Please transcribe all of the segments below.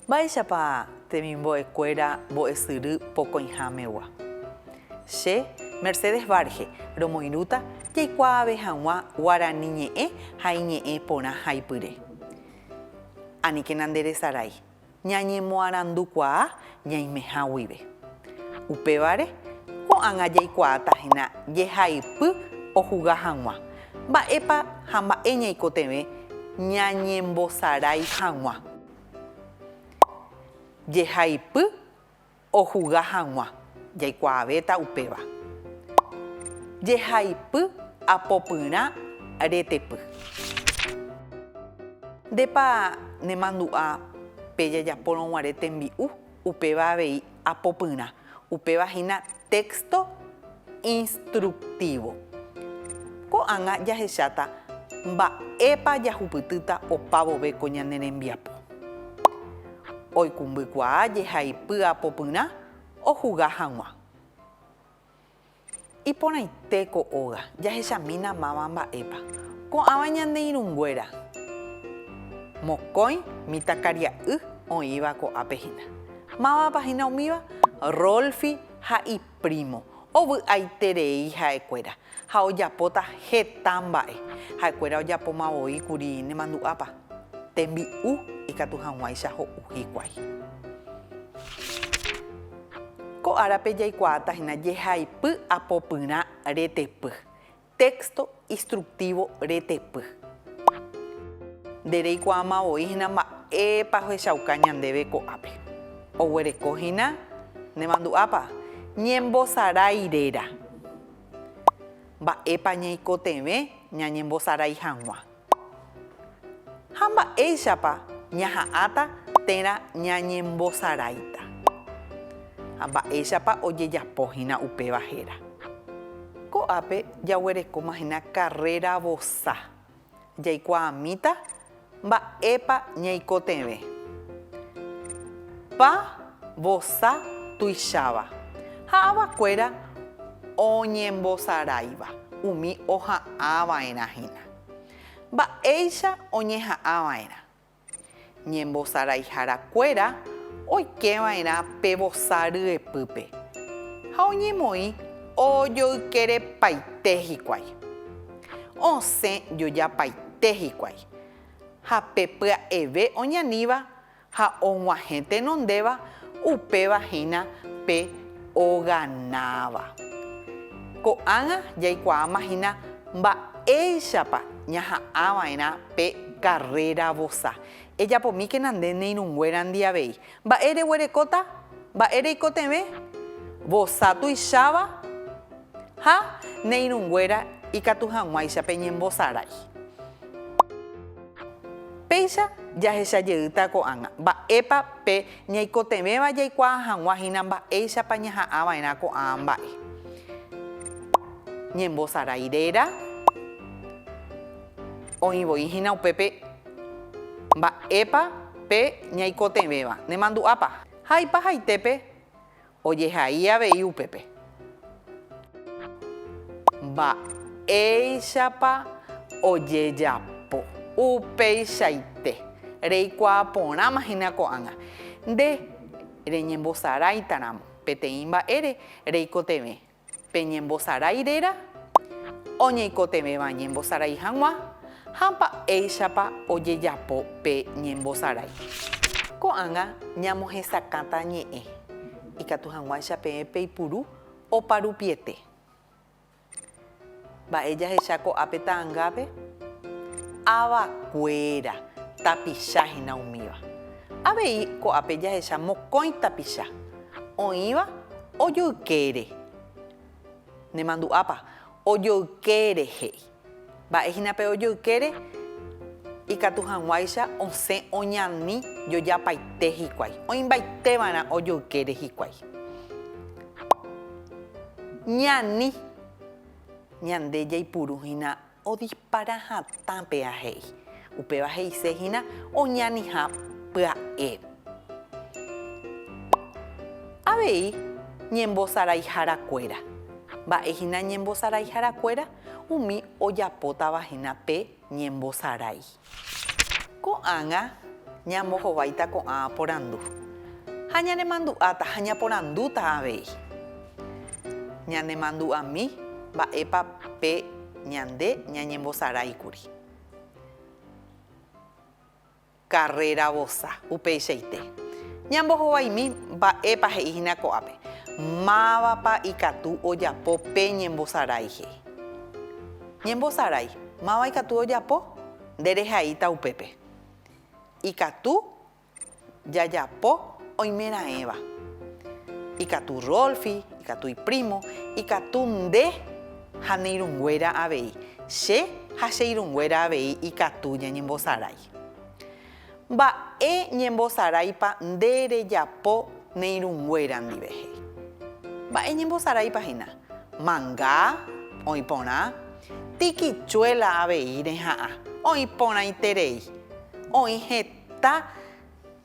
Mba'éichapa temimbo'ekuéra mbo'esyry pokõihámegua? Che, Mercedes Varge, romoirũta jaikuaave hag̃ua guarani ñe'ẽ ha iñe'ẽ porã haipyre. Aníkena nderesarái ñañemoarandukuaa ñaimeha guive. Upévare, ko'ág̃a jaikuaáta hína jehaipy ohuga hag̃ua mba'épa ha mba'e ñaikotevẽ ñañembosarái hag̃ua. Jehaipy Ojuga hag̃ua, jaikuaavéta upéva. Jehaipy apopyrã retepy. Ndépa nemandu'a pe jajapórõ guare tembi'u, upéva avei apopyrã. Upéva hína téxto. instructivo. Ko'ág̃a jahecháta mba'épa jahupytýta opa vove ko ñane rembiapo. Oikũmbykuaa jehaipy apopyrã ohuga hag̃ua. Iporãite ko óga, jahechamína máva mba'épa. Ko'ãva ñande irũnguéra, mokõi mitãkaria'y oĩva ko'ápe hína. Mávapa hína umíva? Rolfi ha i. Primo. Ovy'aiterei ha'ekuéra ha ojapóta heta mba'e. Ha'ekuéra ojapóma voi kuri nemandu'ápa, tembi'u ikatu hag̃uáicha ho'u hikuái. Ko árape jaikuaáta hína jehaipy apopyrã retepy. Texto instructivo retepy. Nde reikuaáma voi hína mba'épa ohechauka ñandéve ko'ápe. Oguereko hína nde mandu'ápa ñembosarái réra. Mba'épa ñaikotevẽ ñañembosarái hag̃ua. Ha mba'éichapa ñaha'ãta térã ñañembosaráita? Ha mba'éichapa ojejapo hína upéva héra? Ko'ápe jaguerekóma hína karréra vosa, jaikuaamíta mba'épa ñaikotevẽ. Pa vosa tuicháva ha avakuéra oñembosaráiva umi oha'ãva'erã hína. Mba'éicha oñeha'ãva'erã. Ñembosaraiharakuéra oikéva'erã pe vosa ryepýpe, ha oñemoĩ ojoykerepaite hikuái. Osẽ jojapaite hikuái, ha pe pya'eve oñaníva Ha og̃uahẽ tenondéva, upéva hína pe oganáva. Ko'ág̃a jaikuaáma hína mba'éichapa ñaha'ãva'erã pe karréra vosa. Ejapomíkena nde ne irũnguérandi avei. Mba'e reguerekóta? Mba'e reikotevẽ? Vosa tuicháva ha ne irũnguéra ikatu hag̃uáicha peñembosarái. Péicha jahecha jeýta ko'ág̃a mba'épa pe ñaikotevẽva jaikuaa hag̃ua hína mba'éichapa ñaha'ã va'erã ko'ã mba'e. Ñembosarái réra, oĩ voi hína upépe mba'épa pe ñaikotevẽva. Nemandu'ápa? Jaipahaitépe Ojehai avei upépe. Mba'éichapa ojejapo. Upeichaite, reikuaa porãma hína ko'ág̃a. Nde reñembosaráitaramo peteĩ mba'ére, reikotevẽ. Pe ñembosarái réra oñeikotevẽva ñembosarái hag̃ua ha mba'éichapa ojejapo pe ñembosarái. Ko'ág̃a ñamohesakãta ñe'ẽ ikatu hag̃uáicha peẽ peipuru oparupiete. Mba'e jahecha ko'ápe ta'angápe? Ava kuéra, tapicha hína umíva. Avei ko'ápe jahecha mokõi tapicha. Oĩva ojoykére. Nemandu'ápa? Ojoykére he'i. Mba'e hína pe ojoykére? Ikatu hag̃uáicha osẽ oñani jojapaite hikuái. Oĩmbaite va'erã ojoykére hikuái. Ñani. Ñande jaipuru hína odispara hatã pe ahéi. Upéva he'ise hína oñaniha pya'e. Avei ñembosaraihára kuéra. Mba'e hína ñembosaraihára kuéra? Umi ojapótava hína pe ñembosarái. Ko'ág̃a ñambohováita ko'ã porandu ha ñanemandu'áta ha ñaporandúta avei. Ñanemandu'ami mba'épa pe ñande ñañembosaráikuri. Carrera vosa. Upeichaite, ñambohovaimi mba'épa he'i hína ko'ápe, mávapa ikatu ojapo pe ñembosarái he'i. Ñembosarái, máva ikatu ojapo? Nderehaíta upépe. Ikatu jajapo oimeraẽva. Ikatu Rolfi, ikatu iprímo, ikatu nde. Ha ne irũnguéra avei, che ha che irũnguéra avei ikatu ñañembosarái. Mba'e ñembosaráipa nde rejapo ne irũnguéra ndive? he'i. Mba'e ñembosaráipa hína? Manga, oĩ porã, tikichuela avei reha'ã, oĩ porãiterei, oĩ heta,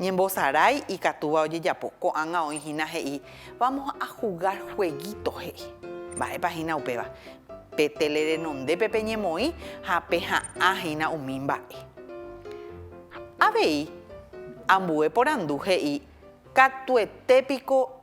Ñembosarái ikatúva ojejapo. Ko'ág̃a oĩ hína he'i, Vamos a jugar jueguito, he'i. Mba'épa hína upéva? Pe téle renondépe peñemoĩ ha peha'ã hína umi mba'e. Avei ambue porandu he'i, Katuete piko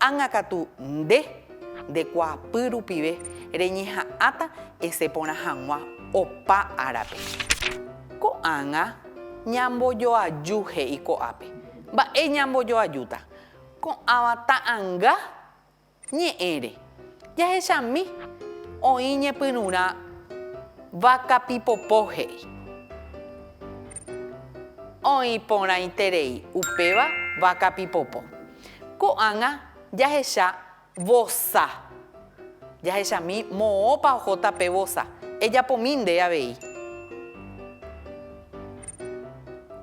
Ág̃a katu nde, nde kuaapy rupive, reñeha'ãta ese porã hag̃ua opa árape. Ko'ág̃a ñambojoaju he'i ko'ápe. Mba'e ñambojoajúta? Ko'ãva ta'ãnga ñe'ẽre, jahechami, oĩ ñepyrũrã váka pipopo he'i. Oĩ porãiterei upéva váka pipopo. Ko'ág̃a jahecha vosa. Jahechami moõpa ohóta pe vosa. Ejapomi nde avei.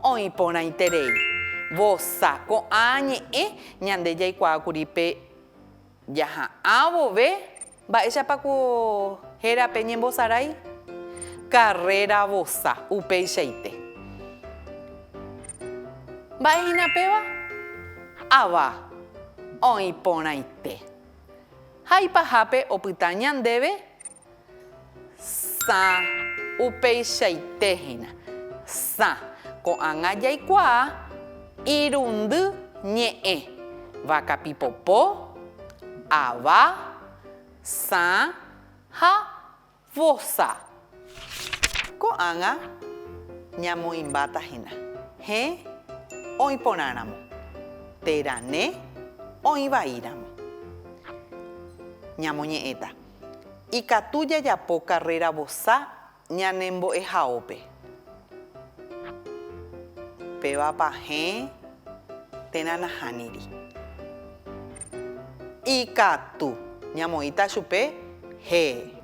Oĩ porãiterei. Vosa. Ko'ã ñe'ẽ ñande jaikuaákuri pe. Jaha'ã vove, mba'éichapa ko hérape ñembosarái? Karréra vosa, upeichaite. Mba'e hína péva? Ava oĩ porãite. Haipahápe opyta ñandéve Sã. Upeichaite hína. Sã. Ko'ág̃a jaikuaa irundy ñe'ẽ, vaka pipopo, ava, sã ha vosa. Ko'ág̃a ñamoĩmbáta hína hẽ oĩ porãramo, térã ne oĩ vaíramo. Ñamoñe'ẽta. Ikatu jajapo karréra vosa ñane mbo'ehaópe. Pévapa hẽ térã nahániri. Ikatu. Ñamoĩta chupe hee.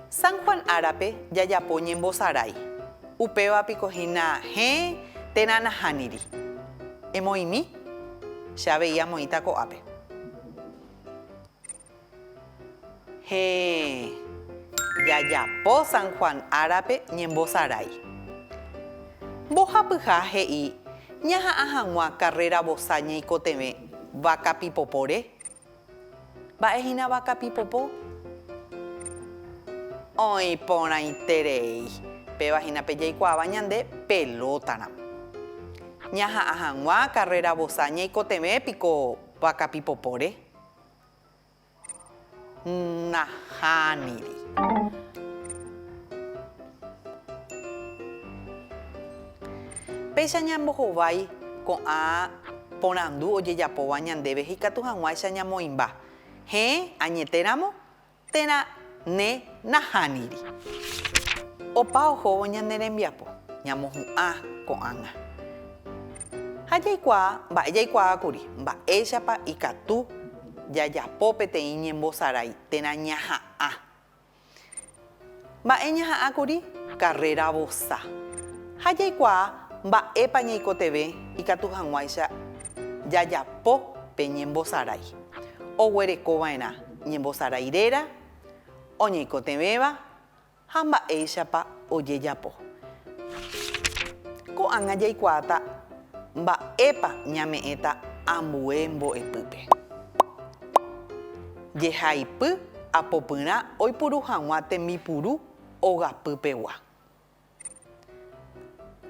San Juan árape jajapo ñembosarái, upéva piko hína hẽ térã nahániri. Emoĩmi, che avei amoĩta ko'ápe. Hẽ, jajapo San Juan árape ñembosarái. Mbohapyha he'i ñaha'ã hag̃ua karréra vosa ñeikotevẽ Vaca Pipopore Mba'e hína vaka pipopo? Oĩ porãiterei. Péva hína pe jaikuaáva ñande pelótaramo. Ñaha'ã hag̃ua karréra vosa ñaikotevẽ piko vaka pipopóre? Nahániri. Péicha ñambohovái ko'ã porandu ojejapóva ñandéve ikatu hag̃uáicha ñamoĩmba, Heẽ, añetéramo térã ne nahániri. Opa ohóvo ñane rembiapo, ñamohu'ã ko'ág̃a. Ha jaikuaa mba'e jaikuaákuri mba'éichapa ikatu jajapo peteĩ ñembosarái térã ñaha'ã. Mba'e ñaha'ã kuri? Karréra vosa. Ha jaikuaa mba'épa ñaikotevẽ ikatu hag̃uáicha jajapo pe ñembosarái. Oguereko va'erã ñembosarái réra, oñaikotevẽva ha mba'éichapa ojejapo. Ko'ág̃a jaikuaáta Mba'épa ñame'ẽta ambue mbo'epýpe? Jehaipy apopyrã oipuru hag̃ua tembipuru ogapýpegua.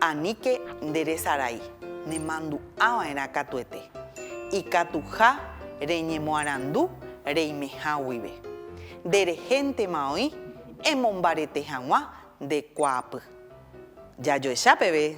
Aníke nde resarai, nemandu'ava'erã katuete, ikatuha reñemoarandu reimeha guive. Nde rehéntema oĩ emombarete hag̃ua nde kuaapy. Jajoecha peve